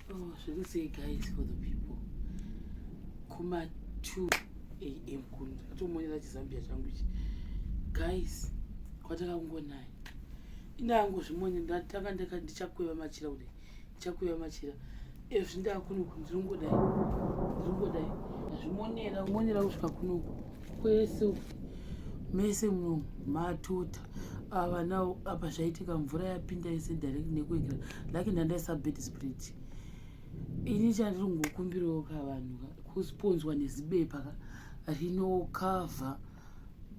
Oh, zviri sei guys for the people kuma 2 am kuno ndatomonera chizambia changu ichi guys kwatakangonaya indangozvimonye ndatanga ndaka ndichakweva machira kudai ndichakweva machira ezvi ndakunoku ndiringodai ndiringodai ndazvimonera kumonera kusvika kunoku kwesu mese muno matota ava nawo apa zvaitika mvura yapinda yese direct nekuekera lake ndandaisa bed sprit ini chandiri kungokumbirawo ka vanhu kusponzwa nezibepa ka rinokavha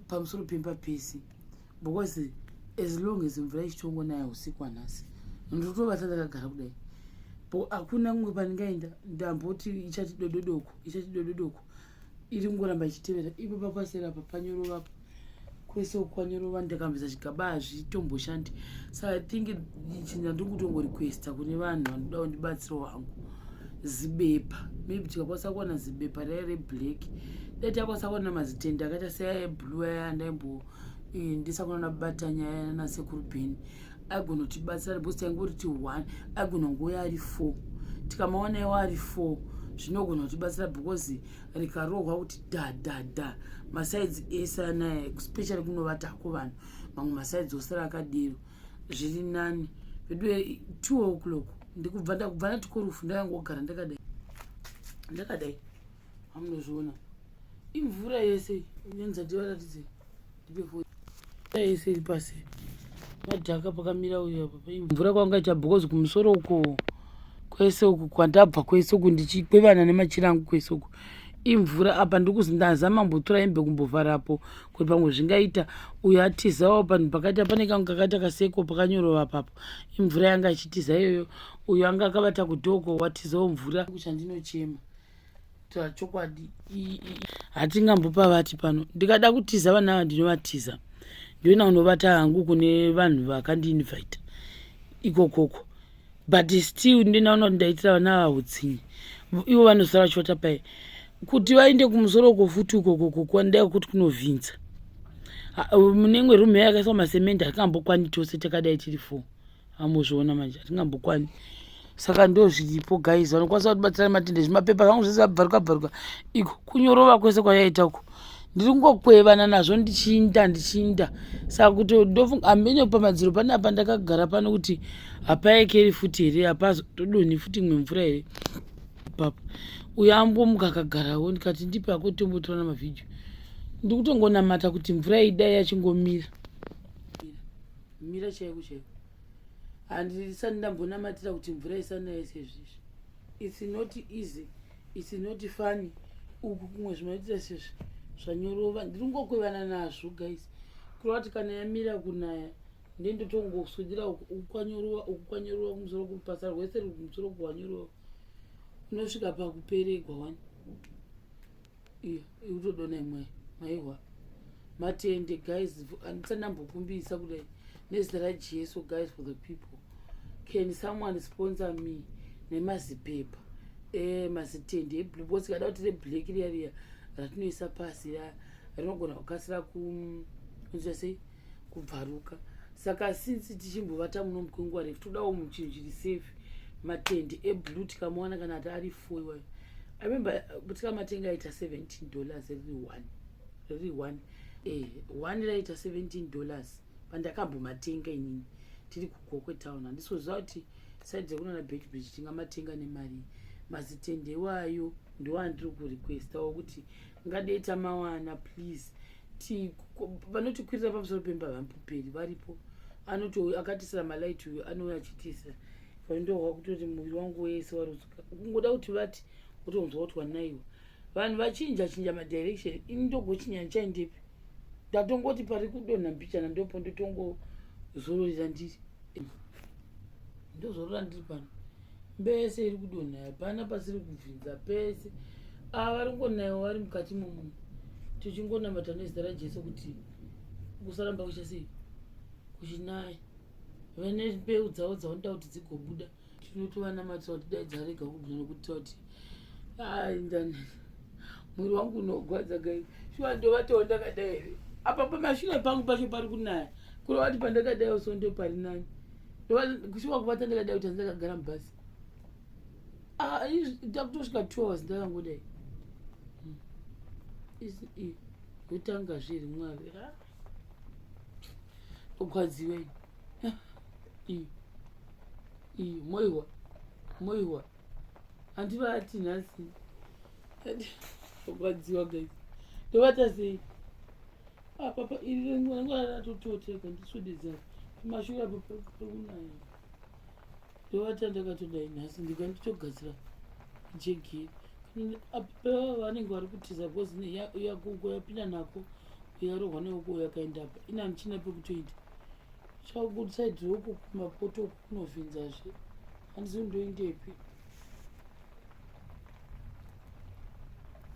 pamusoro pemba pese because as long as mvura ichitongonaya usiku anhasi ndotobata ndakagara kudai bo hakuna kumwe pandingaenda ndamboti ichati dododoko ichati dododoko iri kungoramba ichitevera ipo pakwasera apa panyorova apa kwese ukwanyorova ndakambisa chigaba hazvitomboshandi so i think chinza ndiri kutongorequesta kune vanhu vanoda kundibatsiro wangu zibepa maybe tikakwanisa kuwana zibepa raya reblack dai takwanisa kuwana mazitende akaita seaya eblue aya ndaimbo eh, ndisakona nabatanya aya nanasekuru beni agona kutibatsira because taingori ti one agona ngouya ari four tikamaona iwo ari four zvinogona kutibatsira because rikarohwa kuti dadada masaidzi ese anaya especially kunovatako vanhu mamwe masaidzi osara akadero zviri nani veduwe two o'clock ndikubva ndakubva natikorufu ndakangogara ndakadai ndakadai amunozviona imvura yese nenzati varatidzei isiri pasi madhaka pakamira uyo apa paimvura kwanga icha because kumusoro uko kwese uku kwandabva kwese uku ndichikwevana nemachira angu kwese uku imvura apa ndikuzi ndazama mbotora imbe kumbovharapo kuti pamwe zvingaita uyo atizawo panhu pakaita pane kangu kakaita kaseko pakanyorova papo imvura yanga ichitiza iyoyo uyo anga akabata kudoko watizawo mvura kuchandinochema ta chokwadi hatingambopa vati pano ndikada kutiza vana ava ndinovatiza ndoina kunovata hangu kune vanhu vakandiinvita ikokoko but still ndinaona kuti ndaitira vana ava utsinyi ivo vanosara vachivata paye kuti vaende kumusoro uko futi ukokoko kwandai kuti kunovhinza mune imwe rume yakaiswa masemende hatingambokwani tose takadai tiri four amuzviona manje hatingambokwani saka ndozviripo guys vanokwanisa kutibatsira matende zvimapepa zvangu zvese abvaruka bvaruka iko kunyorova kwese kwayaita uko ndiri kungokwevana nazvo ndichiinda ndichiinda saka kuti ndofunga hambenyo pamadziro pane apa ndakagara pano kuti hapaekeri futi here hapazo todonhi futi imwe mvura here papa uyo ambomuka akagarawo ndikati ndipe ako tombotora namavhidhio ndiri kutongonamata kuti mvura idai yachingomira mira chaiko chaiko handisati ndambonamatira kuti mvura isanaye sezvizvi its not easy its not funny uku kumwe zvinoitira sezvi zvanyorova ndiri ngokwevana nazvo guys kureva kuti kana yamira kunaya ndendotongosudira ukwanyorova ukukwanyorova kumusoro kubasa rwese ruri kumusoro kuwanyorova unosvika pakuperegwa wani ikutodona imwe maihwa matende guys andisa ndambokumbisa kudai nezita rajesu guys for the people can someone sponsor me nemazipepa eh, mazitende eblue bcause kada kuti reblack riya riya ratinoisa pasi ya rinogona kukasira kunzira sei kubvaruka saka since tichimbovata muno mukwenguva refu todawo muchinhu chiri safe matende eblue tikamuwana kana ati ari four iwayo i remember uh, tikamatenga aita 17 dollars riri one riri one eh, one raita 17 dollars pandakambomatenga inini tiri kugokwe town handisoziva kuti side dzekunana bedbridge tingamatenga nemari mazitende iwayo ndoandiri kurequesta wokuti ngadei tamawana please ti vanotikwirira pamusoro pemba vampuperi varipo anotouya akatisira malight uyo anouya achitisa vandohwa kutoti muviri wangu wese waruzuka kungoda kuti vati wotonzwa kuti wanaiwa vanhu vachinja chinja madirection ini ndogochinya ndichaendepi ndatongoti pari kudonha mbichana ndopo ndotongozororera ndiri ndozorora ndiri pano mbese iri kudonha hapana pasiri kubvinza pese ava vari kungonaiwa vari mukati momu tichingonamata nezita rajesu kuti kusaramba kuchasei kuchinaya vane mbeu dzavo dzavanoda kuti dzigobuda tinotovanamatsira kuti dai dzarega kubvira nekuti toti aindanai Mwiri wangu unogwadza guys. Shuwa ndovatawo ndakadai here. Apa pamashure pangu pacho pari kunaya. Kuri wati pandakadai also ndo pari nani. Shuwa kuvata ndakadai kuti ndakagara mubhasi. Ah, ndakutosvika 2 hours ndakangodai. Hmm. Is it? Yotanga zviri mwari. Ah. Ogwadziwe. Ah. Iyi. Iyi moiwa. Moiwa. handivati nhasi rwadziwa guys ndovata sei apapa ah, iri rengwanangatototeka ndiswededza mashura pakunaya ndovata ndakatodai nhasi ndika nditogadzira jegi apaa vanenge vari kutiza bcoz yakuko yapinda nako yarohwa neoko yakaenda apa ina ndichina pekutoita chakugudisa idzoku kumapoto Unovhinzazve. Handizivi ndoendepi.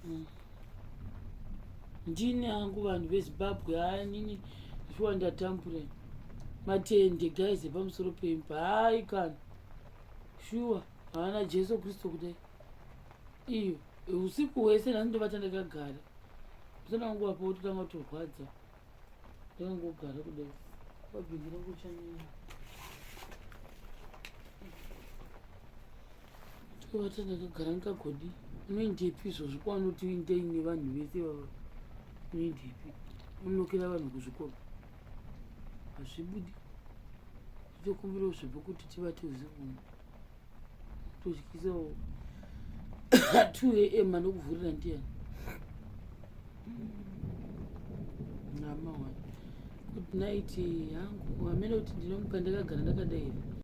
Mm. Ndini angu vanhu veZimbabwe haanini shuwa ndatambura matende guys epamusoro pemba hayi kana shuwa haana jesu kristu kudai iyo usiku hwese nhasi ndovata ndakagara usana wangu wapo wototanga kutorwadza ndongogara kudai kwabhingira kuchanyanya tovata ndakagara ndikagodi unoendepi izvozvo kwaunoti uindei nevanhu vese vava unoendepi unokera vanhu kuzvikoro hazvibudi tokumbirawo zvepo kuti tivate usiku tozvikisawo 2 am anokuvhurira ndiyani nama wa good night yangu wamene kuti ndinomuka ndakagara ndakadai